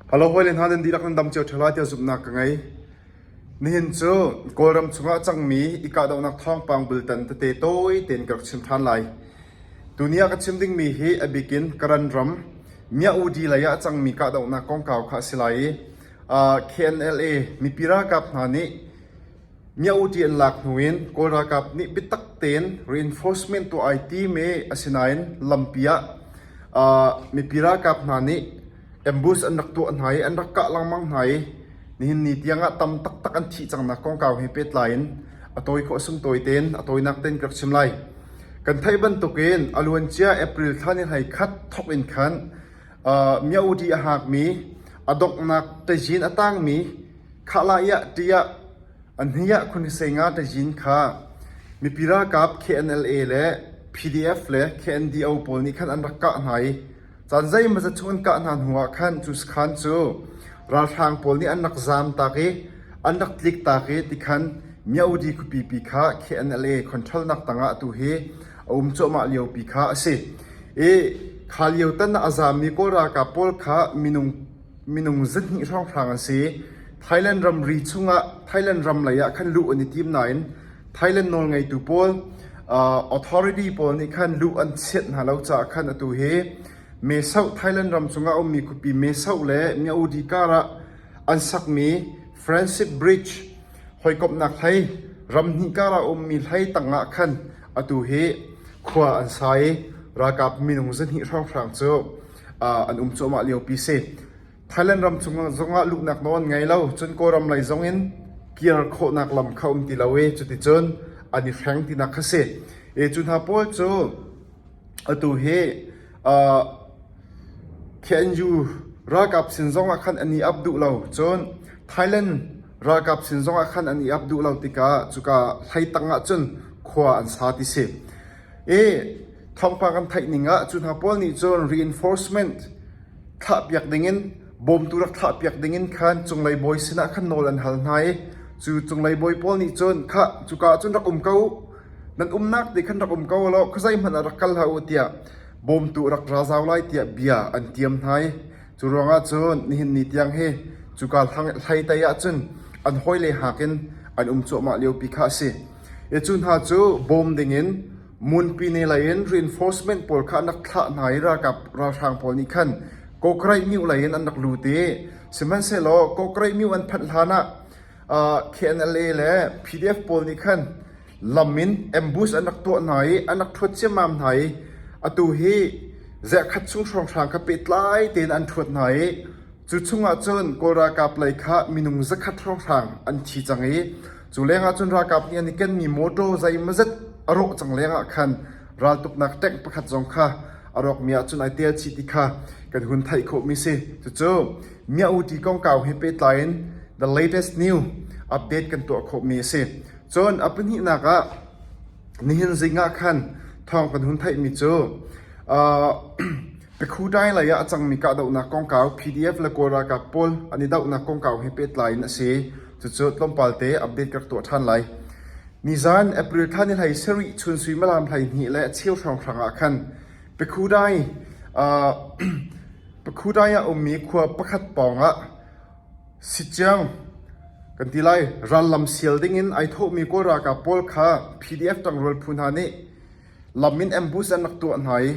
Ka lo hawile hna nan dihlak nan dam cio ṭheo lai tiah zumhnak ka ngei. Nihin cu Kawlram chungah a cangmi i kahdohnak thawngpang bultan tete tawi tein ka rak chim ṭhan lai. Tuni ah ka chim dingmi hi a bik in Karan ram Mya-udi lei ah a cangmi kahdohnak kongkau kha a si lai i KNLA mipi ralkap hna nih Myaukyi an lak hnu in Kawl ralkap nih biatak tein reinforcement tuah ai tim i asinain lampi ah mipi ralkap hna nih ambush an rak tuah hna i an rak kah lengmang hna i nihin ni tiangah tam taktak an thih cangnak kongkau he pehtlai in a tawi khawh a sung tawi tein a tawinak tein ka rak chim lai. Kan theih bantukin a luancia April thla ni hlei khat thawk in khan Myaukyi a hngakmi, a donghnak ṭazin a tangmi Khah lai ah ṭiah a hniah khunisenga ṭazin kha mipi ralkap KNLA le PDF le KNDO pawl nih khan an rak kah hna i caan zeimazat chung an kah hna hnuah khan cu sakhan cu ralhrang pawl nih an rak zamtak i an rak tliktak i tikhan Myaudi khuapipi kha KNLA khonṭhalnak tangah atu hi a um cuahmah liopi kha a si i kha lio tan ah a zammi Kawl ralkap pawl kha minung Minung zihnih hrawnghrang an si. Thailand ramri chungah Thailand ram leiah khan luh an i tim nain Thailand nawlngeitu pawl authority pawl nih khan luh an chiat hna lo caah khan atu hi Mesoh Thailand ram cungah a ummi khuapi Mesoh le Myaudi karah an sakmi Francis Bridge hawikomhnak hlei ram hnih karah a ummi hlei tangah khan atu hi khua an sa i ralkap minung zihnih hrawnghrang cu an um cuahmah liopi si. Thailand ram zongah luhnak nawl an ngei lo. Cun Kawlram lei zongin kir khawhnak lam kha um ti lo i cuticun an i hreng tinak kha si. E cu hna pawl cu atu hi uh, KNU ralkap sin zongah khan an i ap duh lo. Cun Thailand ralkap sin zongah khan an i ap duh lo tikah cuka hlei tangah cun khua an sa ti si. E Thawngpang kan theih ning ah cu hna pawl nih cun reinforcement thlahpiak dingin bawmtu rak thlahpiak dingin khan cunglei bawi sinah khan nawl an hal hna i cu cunglei bawi pawl nih cun khah cuka ah cun rak um ko nan umnak ti khan rak um ko law khua zeihmanh ah rak kal hlah u tiah bawmtu rak ra zau lai tiah bia an tiam hna i cu ruangah cun nihin ni tiang hi cuka hlei tei ah cun an hawile hakin an um cuahmah liopi kha a si i cu hna cu bawm dingin Ngunpi ne lei in reinforcement pawl kha an rak thlah hna i ralkap ralhrang pawl nih khan Kawkreih myu lei in an rak lut i sihmanhsehlaw Kawkreih myu an phanh hlan ah KNLA le PDF pawl nih khan lam in ambush an rak tuah hna i an rak ṭhuat ciammam hna i atu hi ziahkhat chung hrawnghrang kha pehtlai tein an ṭhuat hna i cu chung ahcun Kawl ralkap lei kha minung zakhat hrawnghrang an thi cang i Cu lengah cun ralkap nih an i kenmi mawṭaw zeimawzet a rawh cang lengah khan raltuknak ṭank pakhat zong kha a rawkmi ahcun ai tel chih ti kha kan hun theih khawhmi a si. Cucu Mia'uti kongkau he pehtlai in The Latest News update kan tuah khawhmi a si. Cun a pahnihnak ah nihin zingah khan thawng kan hun theihmi cu uh, Pekhutai lei ah a cangmi kahdohnak kongkau PDF le Kawl ralkap pawl an i dohnak kongkau he pehtlai in a si. Cucu tlawmpal te update ka rak tuah ṭhan lai. Nizan April thla ni hlei sarih chun suimilam hleihnih le a cheu hrawnghrang ah khan Pekhutai ah Pekhutai ah ummi khua pakhat pawng ah Sittiang kan ti lai rallam sial ding in ai thawhmi Kawl ralkap pawl kha PDF tangrual phu hna nih Lam in ambush an rak tuah hna i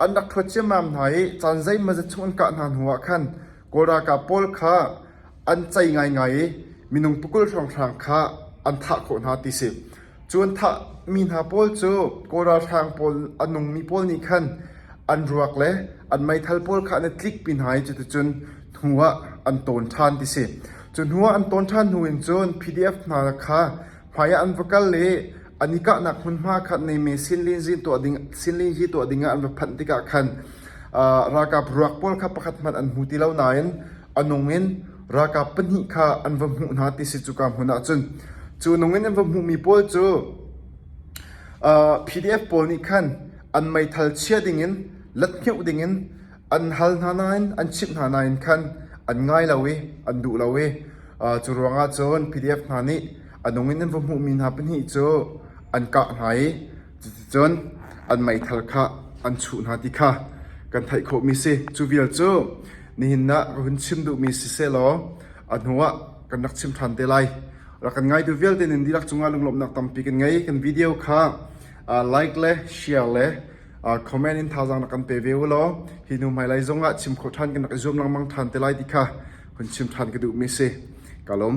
an rak ṭhuat ciammam hna i caan zeimawzet chung an kah hna hnuah khan Kawl ralkap pawl kha an cei ngaingai i minung pakul hrawnghrang kha an thah khawh hna ti a si. Cu an thahmi hna pawl cu Kawl ralhrang pawl an ummi pawl nih khan an ruak le an meithal pawl kha an i tlikpi hna i cuticun hnuah an tawn ṭhan ti a si. Cu hnuah an tawn ṭhan hnu in cun PDF hna kha hmaiah an va kal i An i kahnak hmunhma khat Neyme sinlinzi tuah dingah an va phanh tikah khan ralkap ruak pawl kha pakhat hmanh an hmu ti lo nain a nung in ralkap pahnih kha an va hmuh hna ti si cuka hmun ah cun cu nung in an va hmuhmi pawl cu PDF pawl nih khan an meithal chia dingin lathngeuh dingin an hal hna nain an chimh hna nain khan an ngai lo i an duh lo i cu ruangah cun PDF hna nih A nung in an va hmuhmi hna pahnih cu an kah hna i cuticun an meithal kha an chuh hna ti kha kan theih khawhmi si. Cu vial cu nihin ah ka hun chim duhmi si sehlaw a hnuah kan rak chim ṭhan te lai. Rak kan ngaitu vialte nin dihlak cungah lunglawmhnak tampi kan ngei. Kan video kha uh, like le share le uh, comment in thazang na kan pe ve u law hi hnu hmailai zongah chim khawh ṭhan kan rak i zuam lengmang ṭhan te lai ti kha hun chim ṭhan ka duhmi si. Ka lawm.